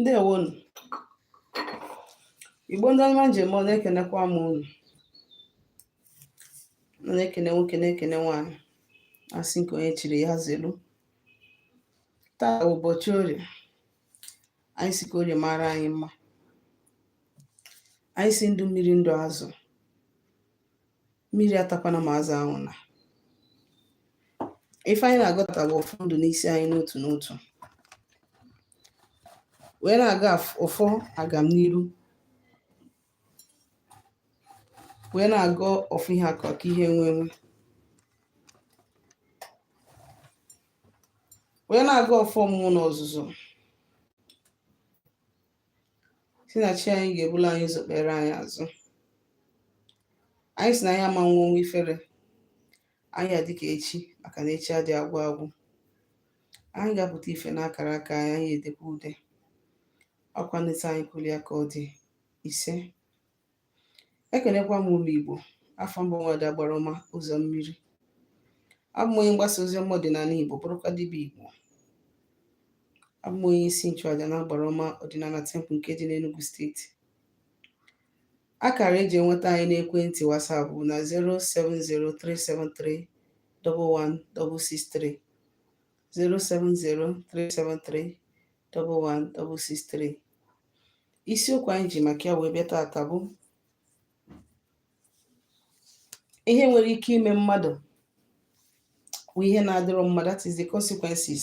ndewonu igbo ndị ọma m ji eme ọnụ ekenekwa m unu na-ekene nwoke na-ekene nwaanyị asị nke onye chiri ya zelu taa ụbọchị orie anyị si ka orie mara anyị mma anyị si ndụ mmiri ndụ azụ mmiri atakwana ma azụ anwụna ife anyị na-agọ taa bụ ọfọ ndụ n'isi anyị n'otu n'otu wee na-agọ ọfọ agam n'iru wee na-agọ ọfọ ihe akụ akụ ihe enwe enwe wee na-agọ ọfọ ọmụmụ na ọzụzụ si na chi anyị ga-ebulu anyị ụzọ kpere anyị azụ anyị si na anyị ama nwụ ọnwụ ifere anyị adị ka echi maka na echi adị agwụ agwụ anyị ga-apụta ife n'akara aka anyị anyị edekwa ude ọkwa n'etu anyị kwulu ya ka ọ dị ise ekenekwa m ụmụ Igbo afa m bụ nwada agbara ọma ụzọ mmiri abụ m onye mgbasa ozi ọma ọdịnala Igbo bụrụkwa dibịa Igbo abụ m onye isi nchụaja na agbara ọma ọdịnala temple nke dị n'Enugu steeti akara eji enweta anyị n'ekwentị WhatsApp bụ na 07037311663 07037311663 isiokwu anyị ji maka ya wee bịa taata bụ ihe nwere ike ime mmadụ bụ ihe na-adịrị mmadụ that is the consequences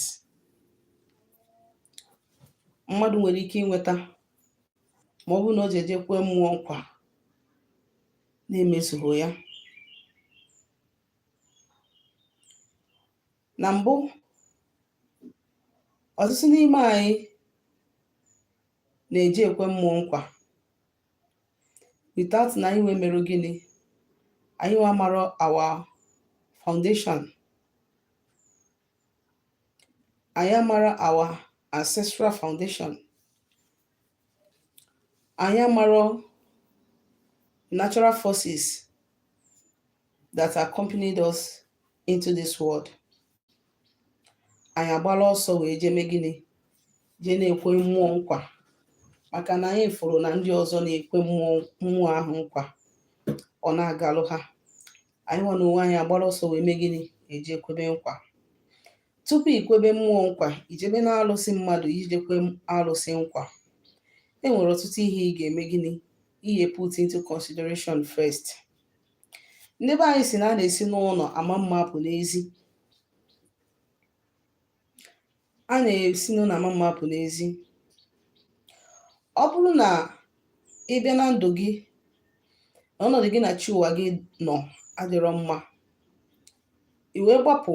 mmadụ nwere ike inweta ma ọ bụrụ na o jee jee kwee mmụọ nkwa na-emezughị ya na mbụ ọtụtụ n'ime anyị na-eje ekwe mmụọ nkwa without na anyị nwa mere gịnị anyị nwa mara our foundation anyị amara our ancestral foundation anyị amara natural forces that accompanied us into this world anyị agbala ọsọ wee jee mee gịnị jee na-ekwe mmụọ nkwa maka na anyị fụrụ na ndị ọzọ na-ekwe mmụọ ahụ nkwa ọ na-agalụ ha anyị nwa na onwe anyị agbara ọsọ wee mee gịnị ejee kwebe nkwa tupu ikwebe mmụọ nkwa ijebe na alụsị mmadụ ije kwe alụsị nkwa e nwere ọtụtụ ihe ị ga-eme gịnị ihe put into consideration first ndị be anyị sị na a na-esi n'ụlọ ama mma apụ n'ezi a na-esi n'ụlọ ama mma apụ n'ezi ọ bụrụ na ị bịa na ndụ gị na ọnọdụ gị na chi ụwa gị nọ adịrọ mma i wee gbapụ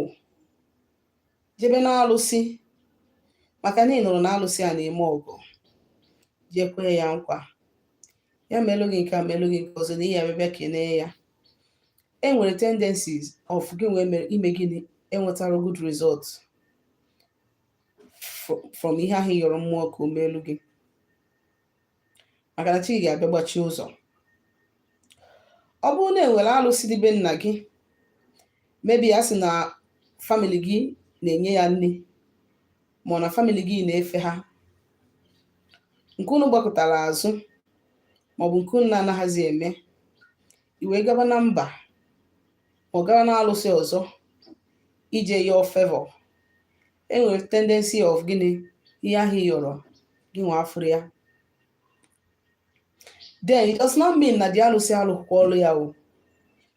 jebe n'alụsị maka na ị nụrụ na alụsị a na-eme ọgọ jee kwe ya nkwa ya meelu gị nke a meelu gị nke ọzọ na ị ya-abịa bịa kelee ya e nwere tendencies of gị nwa ime gịnị enwetarọ good result fro- from ihe ahụ ị yọrọ mmụọ ka o meelu gị maka na chi gị ga-abịa gbachie ụzọ ọ bụrụ na e nwere alụsị dị be nna gị maybe a sị na family gị na-enye ya nni ma ọ na family gị na-efe ha nke unu gbakụtara azụ maọbụ nke unu na-anaghịzi eme i wee gaba na mba ma ọ gara na alụsị ọzọ ije yọọ favor e nwere tendency of gịnị ihe ahụ ị yọrọ gị nwa afụrọ ya then it does not mean na the alụsị alụrọkwa ọlụ ya o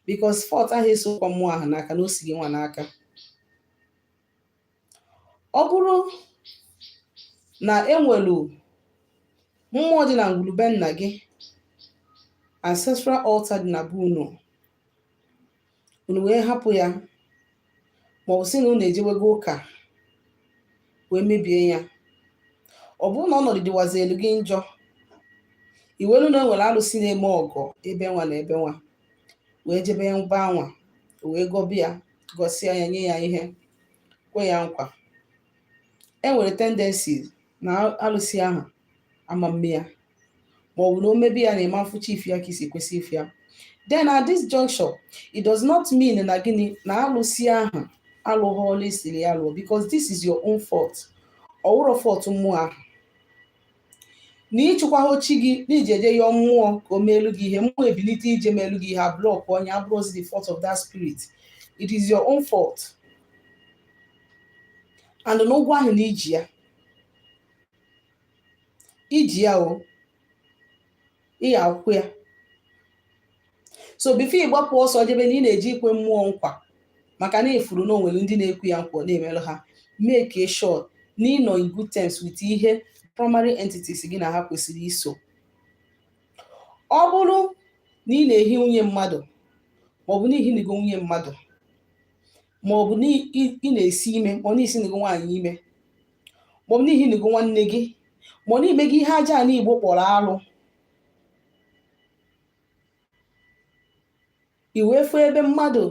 because fault ahụ esirọkwa mmụọ ahụ n'aka na o si gị nwa n'aka ọ bụrụ na e nwelu mmụọ dị na ngwuru be nna gị ancestral altar dị na be unu unu wee hapụ ya ma ọ bụ sị na unu ejewego ụka wee mebie ya ọ bụrụ na ọnọdụ dịwazielu gị njọ i welu na e nwere alụsị na-eme ọgọ ebe nwa na ebe nwa wee jebe mba nwa wee gọbe ya gọsịa ya nye ya ihe kwe ya nkwa e nwere tendency na alụsị ahụ ama mme ya ma ọ bụ na o mebe ya na ị ma mfụcha ife a ka i si kwesị ịfụ ya then at this juncture it does not mean na gịnị na alụsị ahụ alụghị ọlụ ị sịrị ya lụọ because this is your own fault ọ wụrọ fault mmụọ ahụ na ị chụkwahọ chi gị na i jee jee yọọ mmụọ ka o meelu gị ihe mmụọ ebilite ije meelu gị ihe ablock onye abụrọzi the fault of that spirit it is your own fault and na ụgwọ ahụ na i ji ya i ji ya o ị ya-akwụ ya so before ị gbapụ ọsọ jebe na ị na-eje ikwe mmụọ nkwa maka na ị fụrụ na o nwere ndị na-ekwe ya nkwa na-emerụ ha make sure na ị nọ in good terms with ihe primary entities gị na ha kwesịrị iso ọ bụrụ na ị na-ehi nwunye mmadụ maọbụ na i hinigo nwunye mmadụ ma ọ bụ ị na-esi ime ma ọ na i sinigo nwaanyị ime ma ọ bụ na i hinigo nwanne gị ma ọ na i mego ihe ajana Igbo kpọrọ alụ i wee fụ ebe mmadụ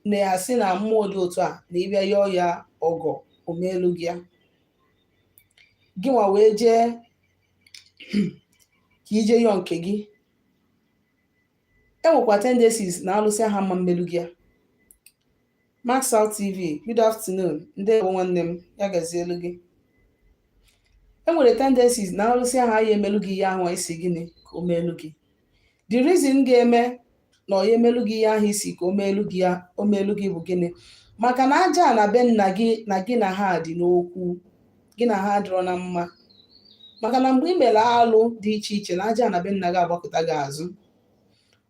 na-asị na mmụọ dị otu a na ị bịa yọọ ya ọgọ o meelu gị ya gị nwa wee jee ka i je yọọ nke gị e nwekwa tendencies na alụsị ahụ ama emelu gị ya Max Out TV good afternoon ndewo nwanne m ya gazielu gị e nwere tendencies na alụsị ahụ aya emelu gị ihe ahụ ị sị gịnị ka o meelu gị the reason ga-eme na ọ ya emelu gị ihe ahụ ị sị ka o meelu gị ya o meelu gị bụ gịnị maka na ajana be nna gị na gị na ha dị n'okwu gị na ha adịrọ na mma maka na mgbe ị mere alụ dị iche iche na ajana be nna gị agbakụta gị azụ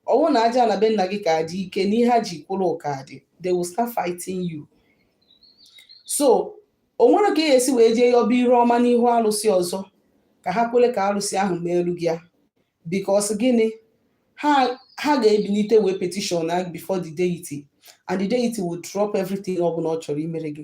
ọ wụ na ajana be nna gị ka dị ike na ihe ha ji kwụrụ ka dị they will start fighting you so o nwerọ ka ị ga-esi wee jee yọba iru ọma n'ihu alụsị ọzọ ka ha kwere ka alụsị ahụ meelu gị ya because gịnị ha ga-ebilite wee petition before the deity and the deity will drop everything ọ bụla ọ chọrọ imere gị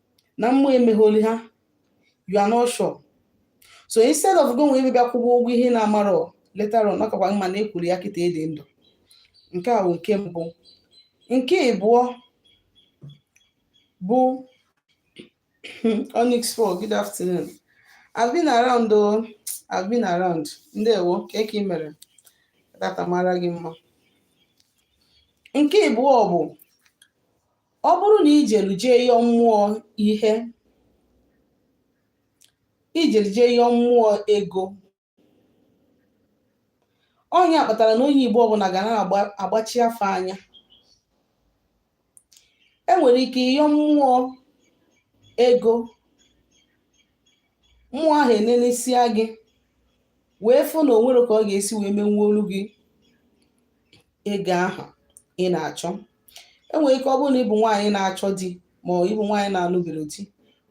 na mmụọ emegholu ha you are not sure so instead of gị nwa ịbịa kwụba ụgwọ ihe ị na-amarọ later on ọ kakwa mma na ị kwụrụ ya kịta ị dị ndụ nke a bụ nke mbụ nke ịbụọ bụ onyx fall good afternoon i've been around o i've been around ndewo kee ka ị mere taata mara gị mma nke ịbụọ bụ ọ bụrụ na i jelu jee yọọ mmụọ ihe i jelu jee yọọ mmụọ ego ọ nya kpatara na onye Igbo ọbụla ga na-agbachi afa anya e nwere ike ị yọọ mmụọ ego mmụọ ahụ enenesia gị wee fụ na o nwerọ ka ọ ga-esi wee menwuolu gị ego ahụ ị na-achọ e nwere ike ọ bụrụ na ị bụ nwaanyị na-achọ di ma ọ ị bụ nwaanyị na-anụberọ di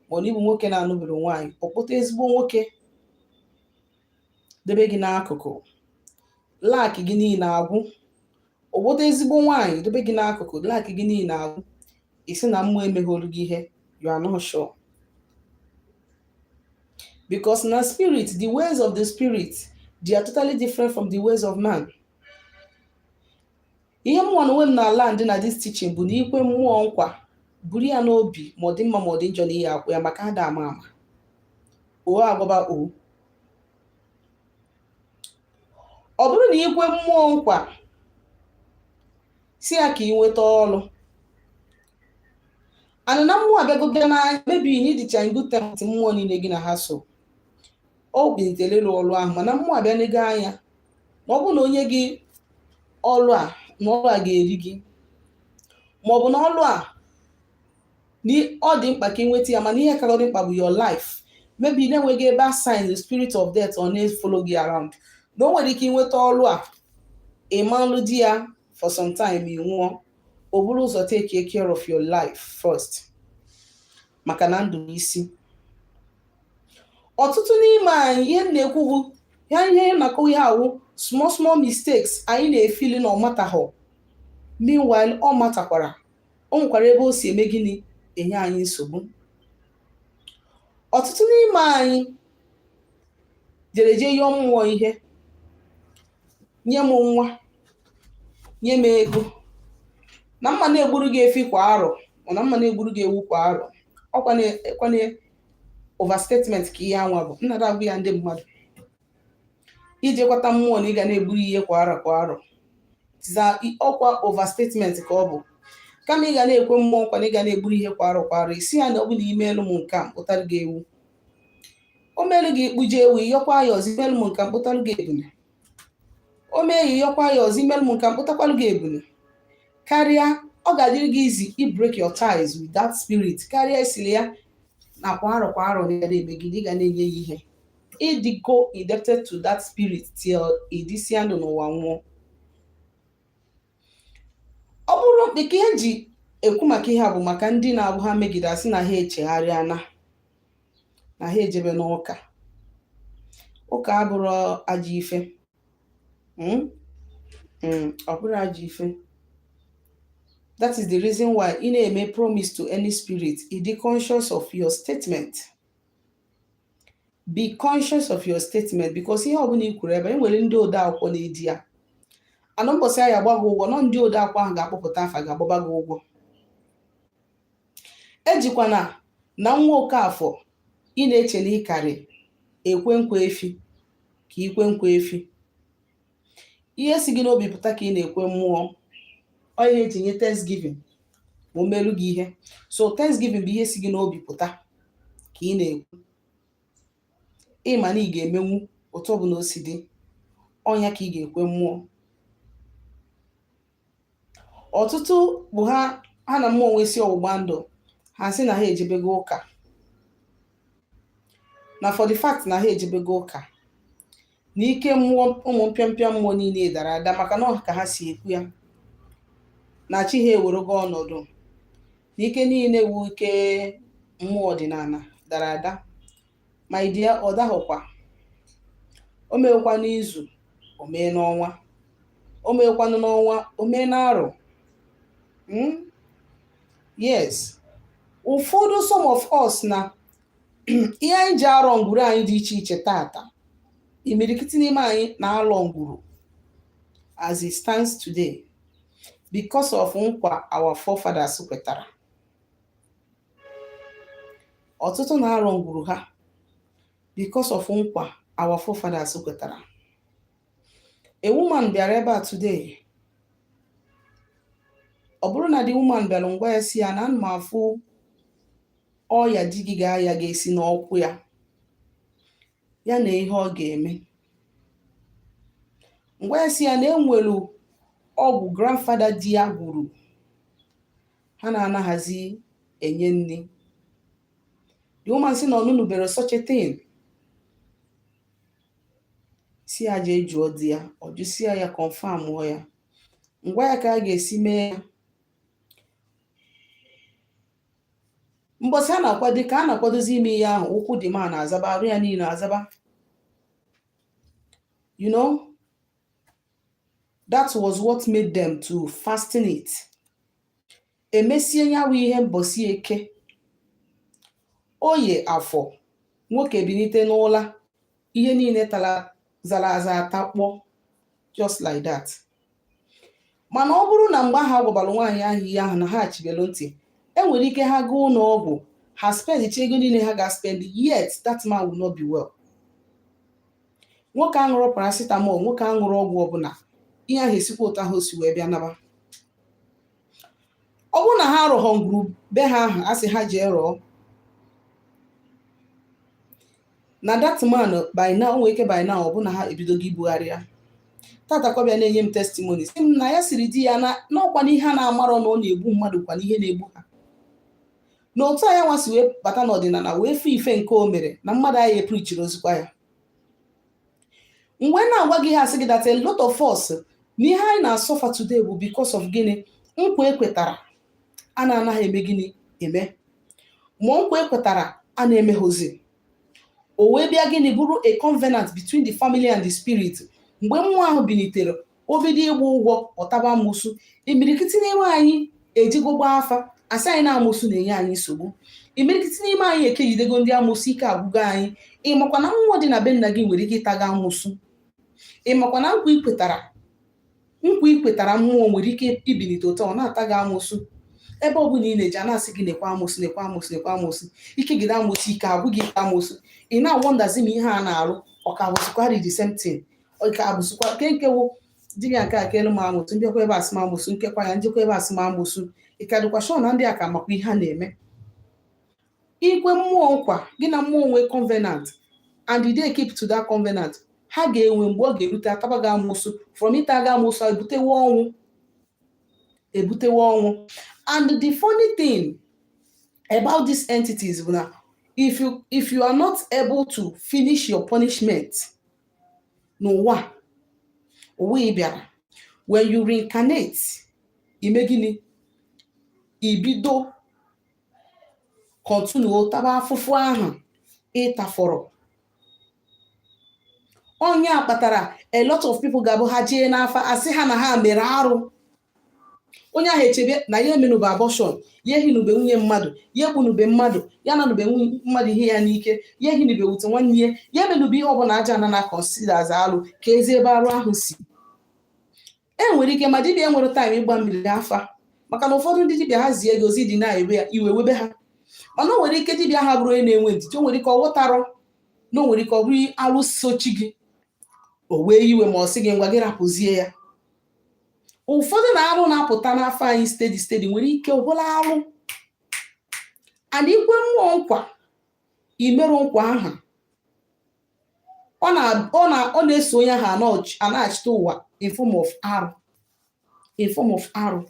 ma ọ na ị bụ nwoke na-anụberọ nwaanyị ọ kpọta ezigbo nwoke debe gị n'akụkụ lack gị niile agwụ ọ kpọta ezigbo nwaanyị debe gị n'akụkụ lack gị niile agwụ ị sị na mmụọ emegholu gị ihe you are not sure because na spirit the ways of the spirit they are totally different from the ways of man ihe mụnwa na onwe m na-land na this teaching bụ na i kwe mmụọ nkwa buru ya n'obi ma ọ dị mma ma ọ dị njọ na ị ya-akwụ ya maka ada ama ama o agwaba o ọ bụrụ na i kwe mmụọ nkwa sị ya ka ị nweta ọrụ ana na mmụọ abịago bịa na maybe na ị dịcha in good terms mmụọ niile gị na ha so o bintelelu ọrụ ahụ mana mmụọ abịa nego anya na ọ bụrụ na o nye gị ọrụ a na ọrụ a ga-eri gị ma ọ bụ na ọrụ a ọ dị mkpa ka ị nweta ya mana ihe karịrị dị mkpa bụ your life maybe na e nwego ebe a assign the spirit of death ọ na-follow gị around na o nwere ike ịnweta ọrụ a ị ma-alụdị ya for some time ị nwụọ o buru ụzọ take care of your life first maka na ndụ n'isi ọtụtụ n'ime anyị ihe m na-ekwu bụ ya ihe m na-akọ ihe a wụ small small mistakes anyị na-feel na ọ matahụ meanwhile ọ matakwara o nwekwara ebe o si eme gịnị enye anyị nsogbu ọtụtụ n'ime anyị jere jee yọọ mmụọ ihe nye m nwa nye m ego na m ma na-egburu gị efi kwa arọ na m ma na-egburu gị ewu kwa arọ ọ kwa na overstatement ka ihe anwa bụ nnada agwa ya ndị mmadụ i je kweta mmụọ na ị ga na-egburu ihe kwa arọ kwa arọ ọ kwa overstatement ka ọ bụ kama ị ga na-ekwe mmụọ nkwa na ị ga na-egburu ihe kwa arọ kwa arọ ị sị ya na ọ bụ na i meelu m nke a m kpụtara gị ewu o meelu gị ị kpụje ewu ị yọkwa ya ọzọ i meelu m nke a m kpụtalụ gị ebule o mee ya ị yọkwa ya ọzọ i meelu m nke a m kpụtakwalụ gị ebule karịa ọ ga-adịrị gị easy i break your ties with that spirit karịa ị sịlị ya na kwa arọ kwa arọ na emegide ị ga na-enye ya ihe ị dịgo indebted to that spirit till ị dịsịa ndụ n'ụwa nwụọ ọ bụrụ dịka ihe e ji ekwu maka ihe a bụ maka ndị na-abụ ha megide a sị na ha echegharịana na ha ejebe n'ụka ụka abụrụ ajọ ife hmm? Hmm, ọ bụrụ ajọ ife that is the reason why ị na-eme promise to any spirit ị dị conscious of your statement be conscious of your statement because ihe ọbụla i kwuru ebe e nwere ndị ode akwụkwọ na-ede ya and mbọsị a ya-agba gị ụgwọ na ọ ndị ode akwụkwọ ahụ ga-akpọpụta afa gị agbaba gị ụgwọ ejikwana na nwa Okafọ ị na-eche na ị karị ekwe nkwa efi ka i kwe nkwa efi ihe si gị n'obi pụta ka ị na-ekwe mmụọ ọ ihe e ji nye thanksgiving ma o meelu gị ihe so thanksgiving bụ ihe si gị n'obi pụta ka ị na-ekwe ị ma na ị ga-emenwu otu ọbụla o si dị ọ nya ka ị ga-ekwe mmụọ ọtụtụ bụ ha ha na mmụọ nwesi ọgbụgba ndụ ha sị na ha ejebego ụka na for the fact na ha ejebego ụka na ike mmụọ ụmụ mpịampịa mmụọ niile dara ada maka na ọ ka ha si ekwu ya na chi ha ewerego ọnọdụ na ike niile wu ike mmụọ ọdịnala dara ada my dear ọ dahụkwa o meekwa n'izu o mee n'ọnwa o meekwanụ n'ọnwa o mee n'arọ Mm? yes ụfọdụ some of us na ihe anyị ji arọ ngwuru anyị dị iche iche tata imirikiti n'ime anyị na-alọ ngwuru as it stands today because of nkwa our forefathers kwetara ọtụtụ na-arọ ngwuru ha because of nkwa our forefathers kwetara a woman bịara ebe a today ọ bụrụ na the woman bịara m gwa ya sị ya na ana m afụ ọya di gị ga-aya ga-esi n'ụkwụ ya ya na ihe ọ ga-eme m gwa ya sị ya na e nwere ọgwụ grandfather di ya gwuru ha na-anaghịzi enye nri the woman sị na ọ nụnụbere such a thing sị ya jee jụọ di ya ọ jụsịa ya confirmụọ ya m gwa ya ka a ga-esi mee ya mbọsị a na-akwado ka a na-akwadozi ime ihe ahụ ụkwụ the man azaba arụ ya niile azaba you know that was what made them to fasten it e mesie ya bụ ihe mbọsị eke oye afọ nwoke binite n'ụla ihe niile tara zara aza atakpọ just like that mana ọ bụrụ na mgbe ahụ a gwabara nwaanyị ahụ ihe ahụ na ha chibelu ntị e nwere ike ha gaa ụlọ ọgwụ ha spendicha ego niile ha ga-spend yet that man will not be well nwoke aṅụrụ paracetamol nwoke aṅụrụ ọgwụ ọbụla ihe ahụ esikwa otu ahụ o si wee bịa naba ọ bụrụ na ha arọghọ ngwuru be ha ahụ a sị ha jee rọọ na that man by now nwee ike by now ọ bụ na ha ebidogo ibugharị ya tata ka ọ bịa na-enye m testimony sị m na ya sịrị di ya na ọkwa n'ihe a na-amarọ na ọ na-egbu mmadụ kwa n'ihe na-egbu ha na otu a ya nwa si wee bata n'ọdịnala wee fụ ife nke o mere na mmadụ ayị eprichiri ozikwa ya mgbe m na-agwa gị ihe a sị gị that a lot of us na ihe anyị na-asọfa today bụ because of gịnị nkwa ekwetara a na-anaghị eme gịnị eme ma nkwa e kwetara a na-emeghozi o wee bịa gịnị bụrụ a covenant between the family and the spirit mgbe mmụọ ahụ bilitere o bido ịgba ụgwọ ọ taba amụsụ imirikiti n'ime anyị ejigo gbaa afa a sị anyị na amụsụ na-enye anyị nsogbu imirikiti n'ime anyị ekegidego ndị amụsụ ike agwụgo anyị ị makwa na mmụọ dị na be nna gị nwere ike ịta gị amụsụ ị makwa na nkwa i kwetara nkwa i kwetara mmụọ nwere ike ibilite ọtọ ọ na-ata gị amụsụ ebe ọ bụla ị na-eje a na-asị gị nekwa amụsụ nekwa amụsụ nekwa amụsụ i kegide amụsụ ike agwụ gị i kee amụsụ ị na-awọndazi ma ihe a na-arụ ọ ka bụzikwarị the same thing ọ ka bụzikwa nke nkewo dibịa nke a ka elu m amụsụ m bịakwa ebe a sị m amụsụ m kekwa ya m jekwa ebe a sị m amụsụ ị ka dịkwa sure na ndị a ka makwa ihe ha na-eme i kwe mmụọ nkwa gị na mmụọ nwee covenant and didn't keep to that covenant ha ga-enwe mgbe ọ ga-erute a taba gị amụsụ from ịta gị amụsụ ebutewe ọnwụ ebutewe ọnwụ and the funny thing about these entities bụ na if you if you are not able to finish your punishment n'ụwa ụwa ị bịara when you reincarnate i mee gịnị i bido continue taba afụfụ ahụ ị tafọrọ ọ nya kpatara a lot of people ga-abụ ha jee n'afa a sị ha na ha mere arụ onye ahụ echebe na ya emenube abortion ya ehinube nwunye mmadụ ya egbunube mmadụ ya nanube nwunye mmadụ ihe ya n'ike ya ehinube wute nwanne ya ya emenube ihe ọbụla a ja na na consider as alụ keezi ebe arụ ahụ si e nwere ike ma dibịa enwere time ịgbamiri afa maka na ụfọdụ ndị dibịa ha zie gị ozi dị na-ewe ya iwe webe ha mana o nwere ike dibịa aha bụrụ onye na-enwe ndidi o nwere ike ọ ghọtarọ na o nwere ike ọ bụrụ alụ so chi gị o wee iwe ma ọ sị gị ngwa gị rapụzie ya ụfọdụ na arụ na-apụta n'afa anyị steady steady nwere ike ọ bụrụ arụ and ikwe mmụọ nkwa imerụ nkwa aha ọ na ọ na ọ na-eso onye ahụ anọch- anaghachite ụwa in form of arụ in form of arụ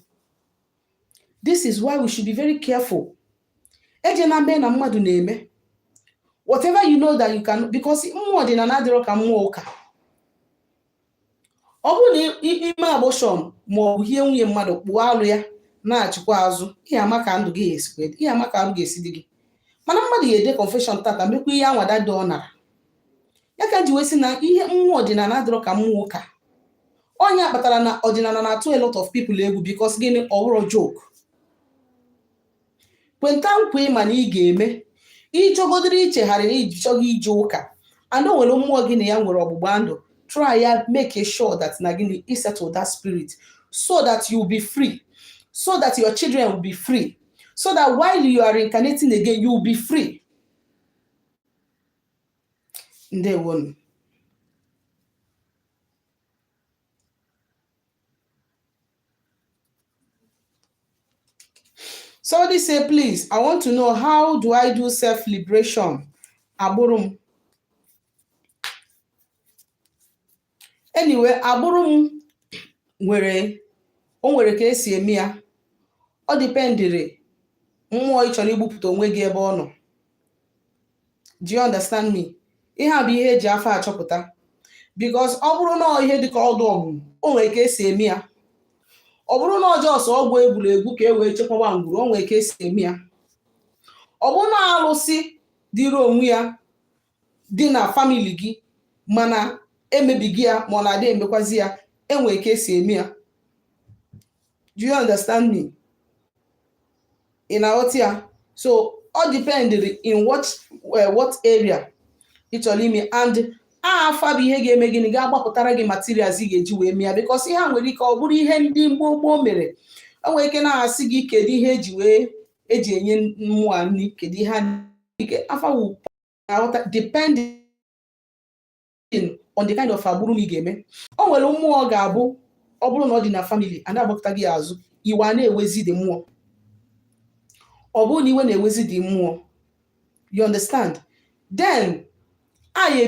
this is why we should be very careful eje na mee na mmadụ na-eme whatever you know that you can because mmụọ ọdịnala adịrọ ka mmụọ ụka ọ bụrụ na i mee abortion ma ọ bụ i hie nwunye mmadụ kpụọ alụ ya nachikwa azụ ị ya-ama ka ndụ gị esikwa ị ya-ama ka arụ ga-esi dị gị mana mmadụ ya-eje confession tata mekwa ihe anwada dị ọ nara ya ka m ji wee sị na ihe mmụọ ọdịnala adịrọ ka mmụọ ụka ọ nya kpatara na ọdịnala na-atụ a lot of people egwu because gịnị ọ bụrọ joke kweta nkwa ịma na ị ga-eme ịchọgodịrị ichegharị na ije chọọchị ije ụka and o nwere mmụọ gị na ya nwere ọgbụgba ndụ try ya make sure that na gịnị i settle that spirit so that you will be free so that your children will be free so that while you are incarnating again you will be free ndewonu Somebody say, please, I want to know how do I do self-liberation? Agbụrụm. Anyway, agbụrụm nwere o nwere ka esi eme ya ọ dipendịrị mmụọ ị chọrọ igbupụta onwe gị ebe ọ nọ do you understand me ihe a bụ ihe eji afa achọpụta because ọ bụrụ na ihe dịka ọdụ ọgwụ o nwere ka esi eme ya ọ bụrụ na ọ just ọgwụ e gwuru egwu ka e wee chekwaba ngwuru o nwere ka esi eme ya ọ bụrụ na alụsị dịrị onwe ya dị na famili gị mana emebighị ya ma ọ na-adị emekwazi ya enwere ka esi eme ya do you understand me ị na-aghọta ya so ọ dipendịrị in what eh, what area ị chọrọ ime and afa bụ ihe ga-eme gịnị ga-agbapụtara gị materials ị ga-eji wee mee ya because ihe a nwere ike ọ bụrụ ihe ndị gboo gboo mere o nwere ike na-asị gị kedu ihe eji wee eji enye mmụọ a nri kedu ihe a ike afa wu na-aghọta depending depending on the kind of agbụrụm ị ga-eme o nwere mmụọ ga-abụ ọ bụrụ na ọ dị na famili a na-agbakụta gị azụ iwe a na-ewezi the mmụọ ọ bụrụ na iwe na-ewezi the mmụọ you understand then anyị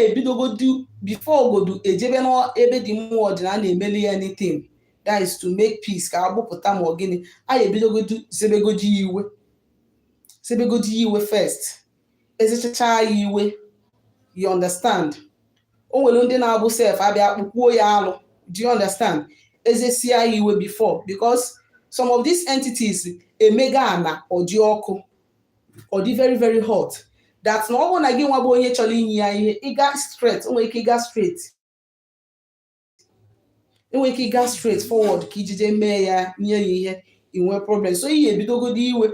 ebidogodi bifo ogodu ejebe n'ebe the mmụọ dị na a na-emeli ya anything that is to make peace ka agbụpụta ma ọ gịnị anyị ebidogodi zebegodi iwe zebegodi iwe first ezechacha ya iwe you understand o nwere ndị na-abụ sef a bịa kpụkwuo ya alụ do you understand ezesia ya iwe before because some of these entities emega ana ọ dị ọkụ ọ dị very very hot that na ọ bụrụ na gị nwa bụ onye chọrọ inye ya ihe ịga straight o nwere ike ịga straight enwere ike ịga straight forward ka ijije mee ya nye ya ihe i nwee problem so ị ya-ebidogodo iwe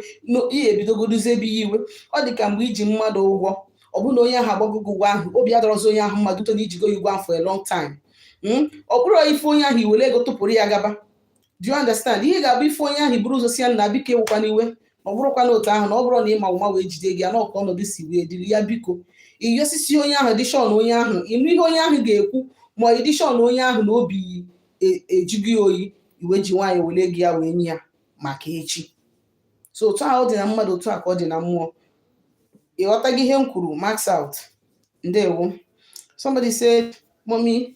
ị ya-ebidogodo zebe ya iwe ọ dị ka mgbe iji mmadụ ụgwọ ọ bụrụ na onye ahụ agbagogo ụgwọ ahụ obi adọrọzi onye ahụ mma due to na i jigo ya ụgwọ ahụ for a long time hmm? ọ bụrụ ị fụ onye ahụ i were ego tụpụrụ ya gaba do you understand ihe ga-abụ ife onye ahụ i buru ụzọ sị ya na biko ewekwana iwe na ọ bụrọkwa na otu ahụ na ọ bụrọ na ị ma ụma wee jide ego ya na ọ ka ọnọdụ si wee dịrị ya biko ị yọsisịa onye ahụ dị sure na onye ahụ ị nụ ihe onye ahụ ga-ekwu ma dị sure na onye ahụ na obi ajụgo oyi i wee ji nwayọ wele ego ya wee nye ya maka echi so otu ahụ ọ dị na mmadụ otu a ka ọ dị na mmụọ ị ghọtago ihe m kwuru max out ndewo somebody said mommy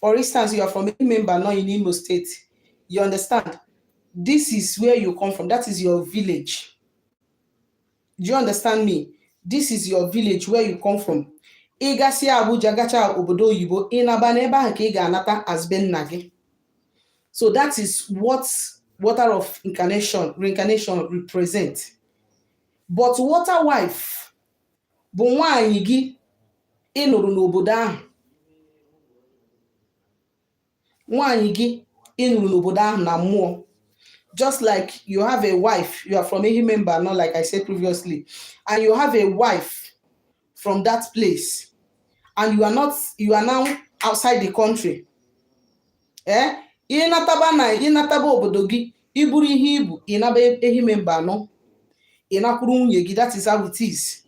For instance, you are from a member now in Imo State. You understand? This is where you come from. That is your village. Do you understand me? This is your village where you come from. Ị gasị Abuja gacha obodo oyibo ị naba n'ebe ahụ ka ị ga-anata as be nna gị. So that is what water of incarnation, reincarnation represent. But water wife, bụ nwaanyị gị ị nụrụ n'obodo ahụ nwaanyị gị ị nụrụ n'obodo ahụ na mmụọ just like you have a wife you are from Ehime Mbano like I said previously and you have a wife from that place and you are not you are now outside the country ee eh, ị nataba na ị nataba obodo gị i buru ihe i bu ị naba Ehime Mbano ị nakwuru nwunye gị that is how it is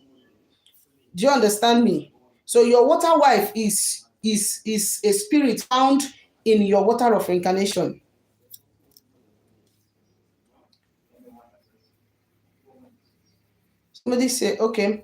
do you understand me so your water wife is is is a spirit found in your water of incarnation somebody say okay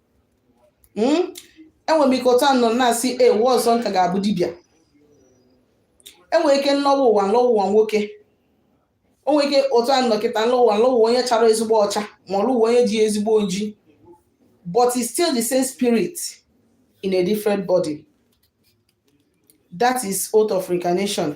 hmm? enwere m ike otu a m nọ na-asị ụwa ọzọ m ka ga-abụ dibịa enwere ike m lọwa ụwa m lọwa ụwa nwoke o nwere ike otu a m nọ kịta m lọwa m lọwa onye chara ezigbo ọcha m alọ ụwa onye ji ezigbo oji but it's still the same spirit in a different body that is oath of reincarnation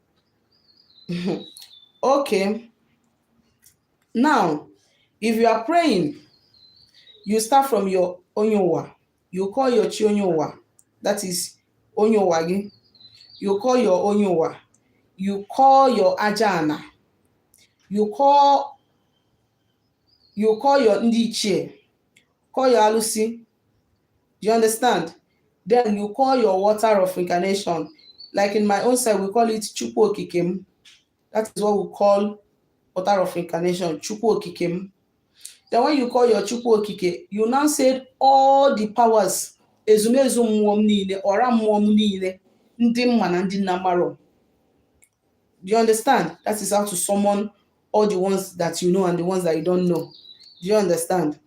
okay now if you are praying you start from your onyowa you call your chi onyowa that is onyowa gị you call your onyowa you call your ajana you call you call your ndị ichie call your alụsị Do you understand? Then you call your water of incarnation. Like in my own side, we call it Chukwu Okike m. That is what we call water of incarnation, Chukwu Okike m. Then when you call your Chukwu Okike, you now said all the powers, ezumezu mmụọ m niile, ọra mmụọ m niile, ndị m ma na ndị m na-amarọ. Do you understand? That is how to summon all the ones that you know and the ones that you don't know. Do you understand?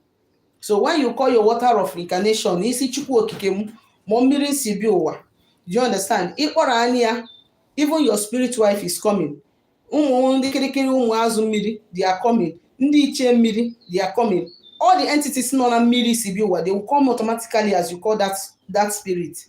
So when you call your water of incarnation, ị sị Chukwu Okike m, ma mmiri m si bịa ụwa. Do you understand? Ị kpọrọ nanị ya, even your spirit wife is coming. Ụmụ ndị kirikiri ụmụ azụ mmiri, they are coming. Ndị ichie mmiri, they are coming. All the entities nọ na mmiri i si bịa ụwa, they will come automatically as you call that, that spirit.